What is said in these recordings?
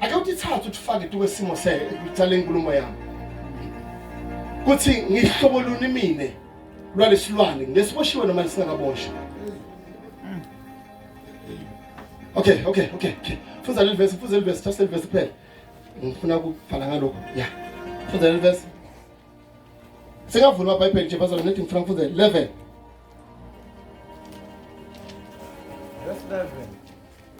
ake utithathe utifake tu kwesimo sale nkulumo yami kuthi ngihlobo luni mina lwalesilwane ngesiboshiwe noma lisingakaboshwa okay okay okay okay funda leli verse funda leli verse thatha leli verse kuphela ngifuna ukubhala ngalokho ya funda leli verse singavula amabhayibheli nje bazalwa nethi ngifuna ngifunda 11 verse 11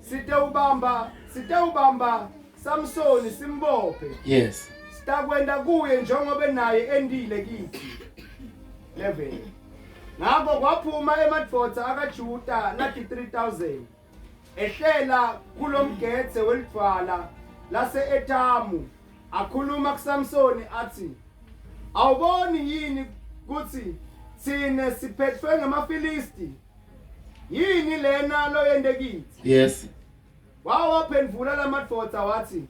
sitewubamba sitewubamba Samsoni simbophe yes sitakwenda kuye njengoba naye endile kithi 11 ngakho kwaphuma emadvodza akaJuda nathi 3000 ehlela kulomgetse welidvala lase Etamu akhuluma kuSamsoni athi awuboni yini kuthi sine siphethwe ngamaFilisti Yini lena loyende kithi? Yes. Wawaphendvula lamadvodza watsi,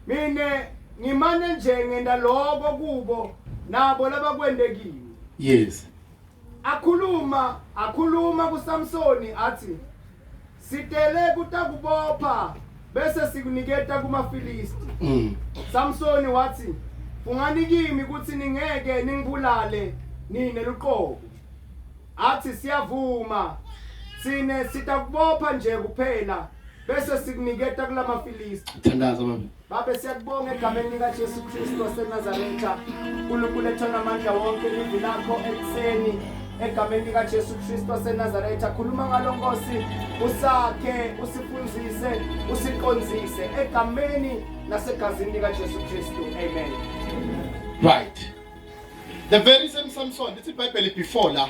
Mina ngimane nje ngenta loko kubo nabo labakwentekile. Yes. Akhuluma, akhuluma kuSamsoni athi, Sitele kutakubopha bese sikuniketa kumaFilisti. Mm. Samsoni wathi, "Fungani kimi ukuthi ningeke ningibulale nina luqobo." Athi siyavuma. Sine sitakubopha nje kuphela bese sikuniketa kulamaFilisti. Thandaza mama. Babe siyakubonga egameni lika Jesu Kristu waseNazaretha. uNkulunkulu ethona amandla wonke livi lakho ekuseni egameni lika Jesu Kristu waseNazaretha. Khuluma ngalo Nkosi, usakhe, usifundise, usiqonzise egameni nasegazini lika Jesu Kristu. Amen. Right. The very same Samson, it's a Bible before la.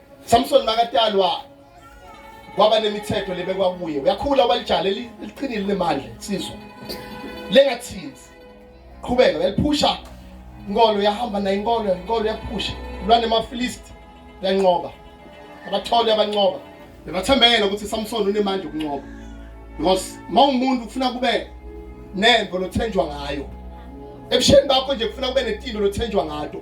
Samson makatalwa kwaba nemithetho lebekwa kuye uyakhula walijala eliqinile lemandla sizwe lengathinzi qhubeka yaliphusha inkolo yahamba nayo inkolo inkolo yaphusha lwane mafilisti yanqoba abathole abanqoba bebathembele ukuthi Samson unemandla okunqoba because mawumuntu ufuna kube nembo lothenjwa ngayo ebusheni bakho nje kufuna kube netindo lothenjwa ngato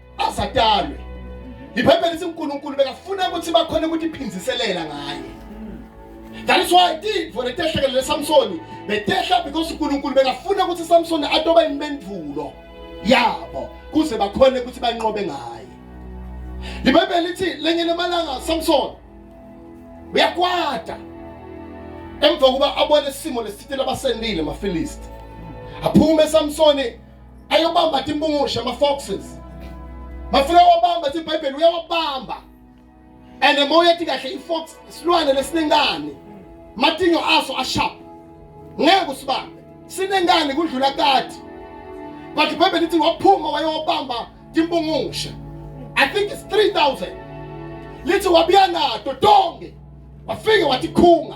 asadalwe ibhayibheli lithi unkulunkulu bekafuna ukuthi bakhona ukuthi iphinziselela ngaye that is why tintfo letehlekelele lesamsoni betehla because unkulunkulu bekafuna ukuthi samsoni atoba impendulo yabo kuze bakhone ukuthi banqobe ngaye libhayibheli lithi lenye lemalanga samsoni uyakwata emva kokuba abone isimo lesithitela abasendile amafilisti aphume samsoni ayobamba timpungushe ama-foxes mafika wabamba thi ibhayibheli uyawabamba and uma uyethi kahle i-fox silwane lesinengane matinyo aso ashap ngeke usibambe sinengane kudlula kati but ibhayibheli ithi waphuma wayowabamba timpungushe i think it's 3000 lithi wabuya nato tonke wafike watikhunga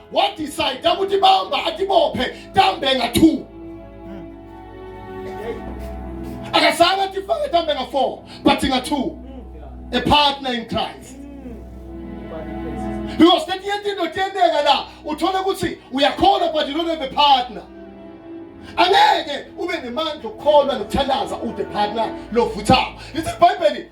wadecide ukuthi bamba atibophe tambenga 2 akasanga tifake tambenga 4 but nga 2 a partner in Christ because that yet into tiyenteka la uthole ukuthi uyakholwa but you don't have a partner angeke ube nemandla okukholwa nokuthandaza ude partner lovuthayo lithi ibhayibheli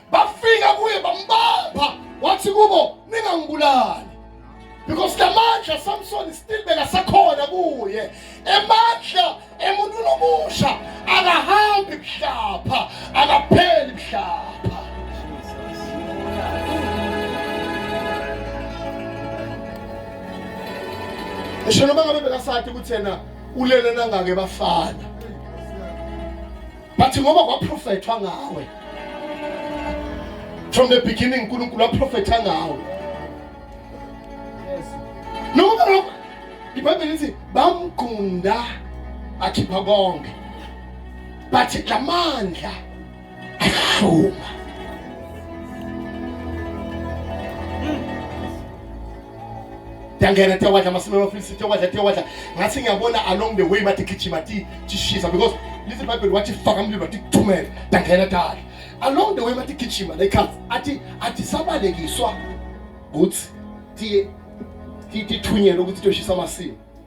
bafika kuye bambamba wathi kubo ningangibulali because la mandla samsoni still bekasakhona kuye emandla emuntwini omusha akahambi kuhlapha akapheli kuhlapha ngisho noma ngabe bekasathi ukuthi yena ulele nangake bafana but ngoba kwaprofethwa ngawe from the beginning uNkulunkulu waprofetha ngawe noma lokho ibhayibheli lithi bamgqunda akhipha konke but lamandla ashuma ndiyangena tiyawadla amasimi amafilisi tiyawadla tiyawadla ngathi ngiyabona along the way bathi gijima tishisa because lithi ibhayibheli wathi faka umlilo wathi kuthumele ndangena dala along the way bathi gijima lekhathi athi athi sabalekiswa ukuthi tithunyelwe ukuthi tiyoshisa amasimi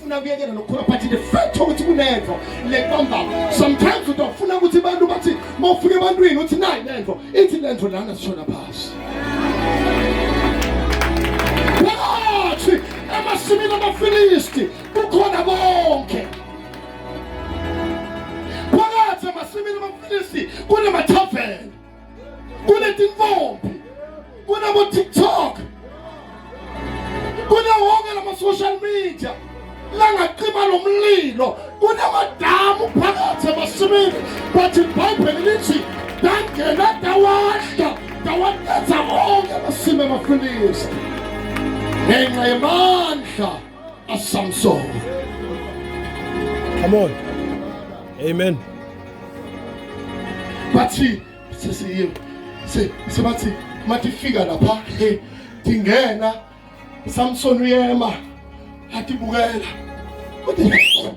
funa kuyekela nokukhula but the fact ukuthi kunenvo lekwamba sometimes utofuna ukuthi abantu bathi mawufika ebantwini uthi nayi lenvo ithi lenvo lana sishona phasi wathi emasimini amafilisti kukhona bonke phakathi emasimini amafilisti kunemathaveni kunetintombi kunabo TikTok kunawo wonke lama social media langacima lo mlilo kunamadamu phakathi emasimini but ibhayibheli lithi dangena dawadla dawatetha wonke amasimi amafilisti ngenxa yemandla a song song. Come on. Amen. Bathi sesiye se sebathi matifika lapha hey tingena Samson uyema atibukela. What the